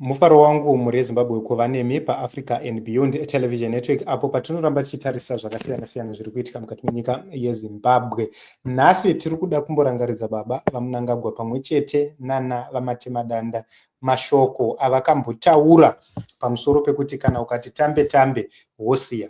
mufaro wangu mhuri yezimbabwe kuva nemi paafrica and beyond television network apo patinoramba tichitarisa zvakasiyana siyana zviri kuitika mukati menyika yezimbabwe nhasi tiri kuda kumborangaridza baba vamunangagwa pamwe chete nana vamatemadanda mashoko avakambotaura pamusoro pekuti kana ukati tambe tambe wosiya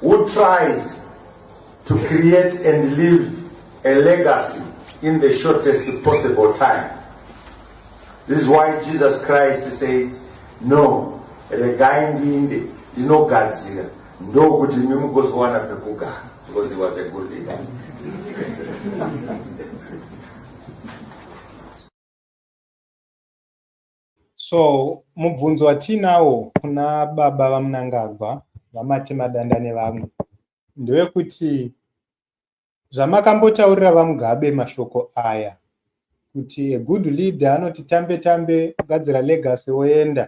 who tries to create and leave a legacy in the shortest possible time this is why jesus christ said no regai ndiinde ndinogadzira ndokuti imi mugozowana pekugara because he was a good leader So mubvunzo watiinawo kuna baba vaMnangagwa, VaMatemadanda nevamwe ndewekuti zvamakambotaurira VaMugabe mashoko aya kuti a good leader anoti tambe tambe gadzira legacy woenda,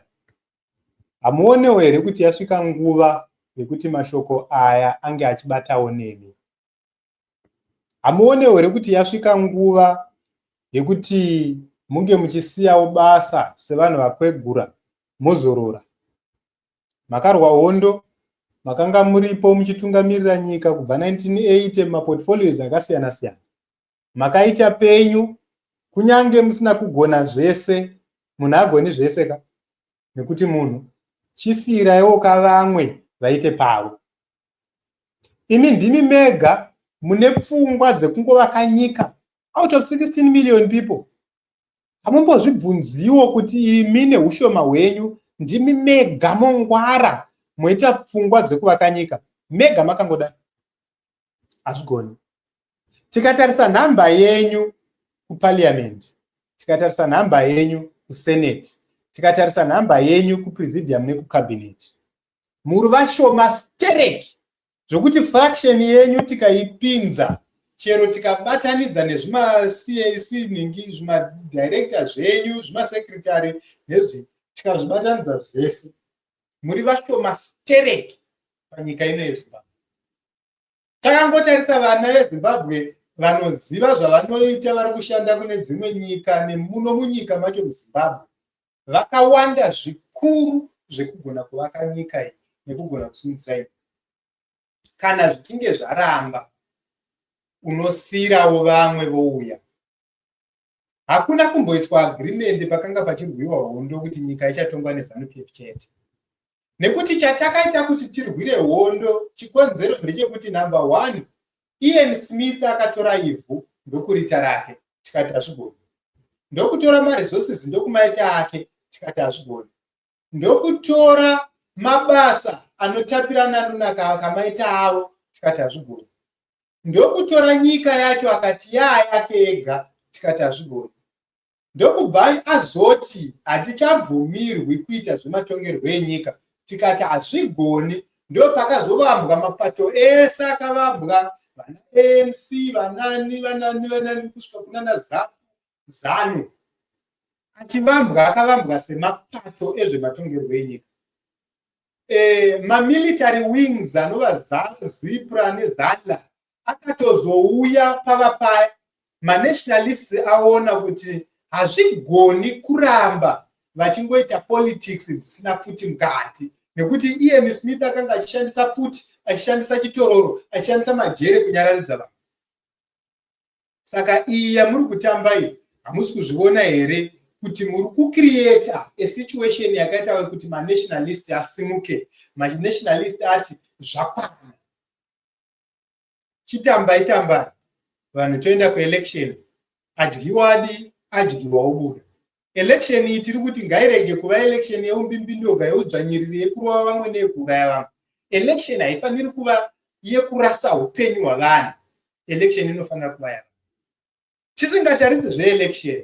hamuonewo here kuti yasvika nguva yekuti mashoko aya ange achibatawo nemi? hamuonewo here kuti yasvika nguva yekuti munge muchisiyawo basa sevanhu vakwegura mozorora makarwa hondo makanga muripo muchitungamirira nyika kubva 1980 mumaportfolios akasiyana siyana makaita penyu kunyange musina kugona zvese munhu agoni zvese ka nekuti munhu chisiiraiwo ka vamwe vaite pavo imi ndimi mega mune pfungwa dzekungovaka nyika out of 16 million people hamumbozvibvunziwo kuti imi neushoma hwenyu ndimi mega mongwara moita pfungwa dzekuvaka nyika mega makangodai hazvigoni tikatarisa nhamba yenyu kuparliament tikatarisa nhamba yenyu kusenate tikatarisa nhamba yenyu kupresidium nekucabinet muri vashoma stereki zvokuti fraction yenyu tikaipinza chero tikabatanidza nezvimacac ningi zvimadirector zvenyu zvimasecretary nezvi tikazvibatanidza zvese muri vashoma stereki panyika ino yezimbabwe takangotarisa vana vezimbabwe vanoziva zvavanoita vari kushanda kune dzimwe nyika nemuno munyika macho muzimbabwe vakawanda zvikuru zvekugona kuvaka nyika iyi nekugona kusimudzira nyika kana zvichinge zvaramba unosiirawo vamwe vouya hakuna kumboitwa agrimende pakanga pachirwiwa hondo kuti nyika ichatongwa nezanup f chete nekuti chatakaita kuti tirwire hondo chikonzero ndechekuti number one ian smith akatora ivhu ndokurita rake tikati hazvigoni ndokutora maresources ndokumaita ake tikati hazvigoni ndokutora mabasa anotapirana anonaka akamaita avo tikati hazvigoni ndokutora nyika yacho akati yaa yake ega tikati hazvigoni ndokubva azoti hatichabvumirwi kuita zvematongerwo enyika tikati hazvigoni ndopakazovambwa mapato ese akavambwa vana anc vanani vanani vanani kusvika kunana zanu achivambwa akavambwa semapato ezvematongerwo enyika eh, mamilitary wings anova zipra nezala akatozouya pava paya manationalists aona kuti hazvigoni kuramba vachingoita politics dzisina pfuti mukati nekuti ian smith akanga achishandisa pfuti achishandisa chitororo achishandisa majere kunyararidza vanhu saka iyi yamuri kutamba iyi hamusi kuzviona here kuti muri kucreata asituation yakaita kuti manationalist asimuke manationalist ati zvakwana chitambai tambai vanhu toenda kuelection adyiwadi adyiwa obuda election iyi tiri kuti ngairege kuva election yeumbimbindoga yeudzvanyiriri yekurova vamwe neyekuuraya vamwe election haifaniri kuva yekurasa upenyu hwavanhu election inofanira kuva yava tisingatarise zveelection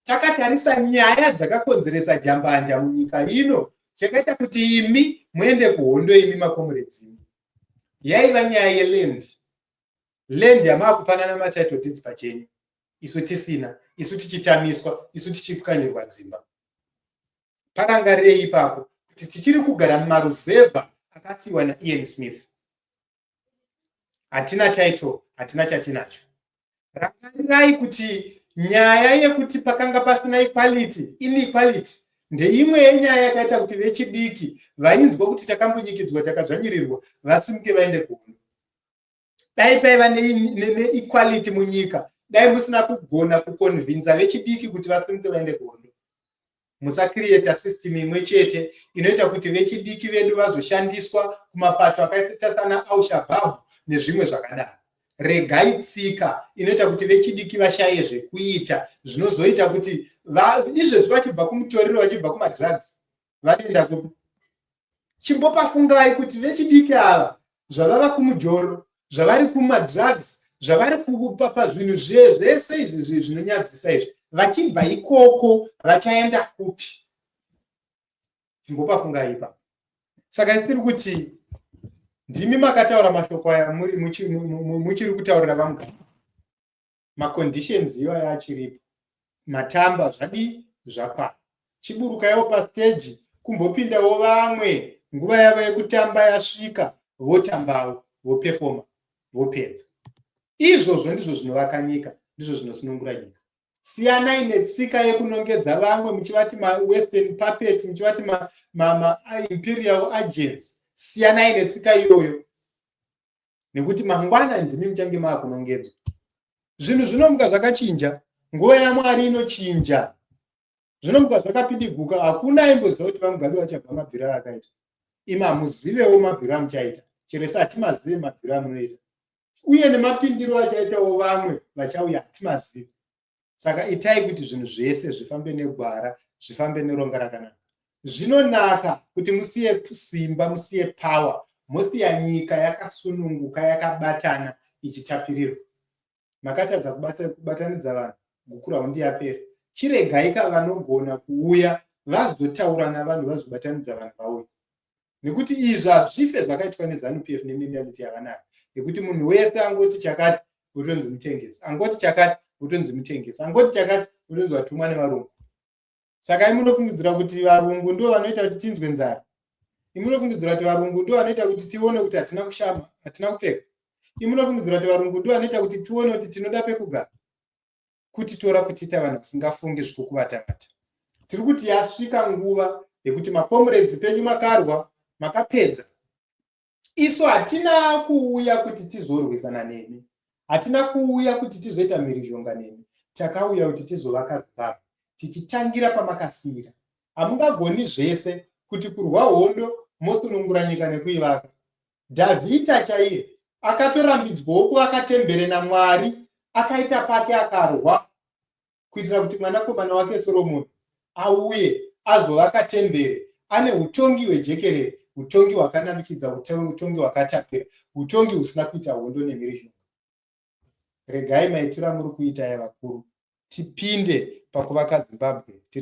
takatarisa nyaya dzakakonzeresa jambanja munyika ino dzakaita kuti imi muende kuhondo imi makomuredzimu yaiva nyaya yeland land yamaakupanana matitle deeds pachenyu isu tisina isu tichitamiswa isu tichipwanyirwa dzimba parangarirei ipapo kuti tichiri kugara mumaruzevha akasiyiwa naian smith hatina title hatina chatinacho rangarirai kuti nyaya yekuti pakanga pasina equality inequality ndeimwe yenyaya yakaita kuti vechidiki vainzwa kuti takambunyikidzwa takadzvanyirirwa vasimuke vaende kuhondo dai paiva neequality munyika dai musina kugona kuconvinza vechidiki kuti vasimuke vaende kuhondo musacreata system imwe chete inoita kuti vechidiki vedu vazoshandiswa kumapato akaita sana aushabab nezvimwe zvakadaro regai tsika inoita kuti vechidiki vashaye zvekuita zvinozoita kuti izvezvi vachibva kumutoriro vachibva kumadrugs vanoenda kupi chimbopafungai kuti vechidiki ava zvavava kumujoro zvavari kumadrugs zvavari kupa pazvinhu zviye zvese izvi zvinonyadzisa izvi vachibva ikoko vachaenda kupi chimbopafungai ipapo saka tiri kuti ndimi makataura mashoko aya muchiri kutaurira vamugari maconditions iwayo achiripo matamba zvadii zvakwana chiburuka yavo pasteji kumbopindawo vamwe nguva yavo yekutamba yasvika votambawo vopefoma vopedza izvozvo ndizvo zvinovaka nyika ndizvo zvinosunungura nyika siyanai netsika yekunongedza vamwe muchivati mawestern puppet muchivati maimperial agents siyanai netsika iyoyo nekuti mangwana ndimi muchange maakunongedzwa zvinhu zvinomuka zvakachinja nguva yamwari inochinja zvinomuka zvakapindiguka hakuna aimboziva kuti vamugabe vachabva mabviro aakaita imi hamuzivewo mabviro amuchaita chero se hatimazive mabviro amunoita uye nemapindiro achaitawo vamwe vachauya hatimazive saka itai kuti zvinhu zvese zvifambe negwara zvifambe neronga rakanaka zvinonaka kuti musiye simba musiye power mosiya nyika yakasununguka yakabatana ichitapirirwa makatadza kubatanidza vanhu gukura hundi yapera chiregaika vanogona kuuya vazotaura navanhu vazobatanidza vanhu vauya nekuti izvi hazvife zvakaitwa nezanup f nemenality yavanayo yekuti munhu wese angoti chakati votonzi mutengesi angoti chakati votonzi mutengesi angoti chakati votonzi vatumwa nevarungu saka imunofungidzira kuti varungu ndo vanoita kuti tinzwe nzara imunofungidzira kuti varungu ndo vanoita kuti tione kuti hatina kushama hatina kupfeka imunofungidzira kuti varungu ndo vanoita kuti tione kuti tinoda pekugara kutitora kutiita vanhu vasingafungi zvikukuvatamata tiri kuti yasvika nguva yekuti makomuredzi penyu makarwa makapedza isu hatina kuuya kuti tizorwisana nemi hatina kuuya kuti tizoita mhirizhonga nemi takauya kuti tizovaka zimbabwe tichitangira pamakasiyira hamungagoni zvese kuti kurwa hondo mosunungura nyika nekuivaka Dhavhidha chaiye akatorambidzwawo kuvaka tembere namwari akaita pake akarwa kuitira kuti mwanakomana wake soromoni auye azovaka tembere ane utongi hwejekerere utongi hwakanamikidza utongi hwakatapira utongi husina kuita hondo nemhirizhonga regai maitira muri kuita yavakuru tipinde pakuvaka zimbabwe tiri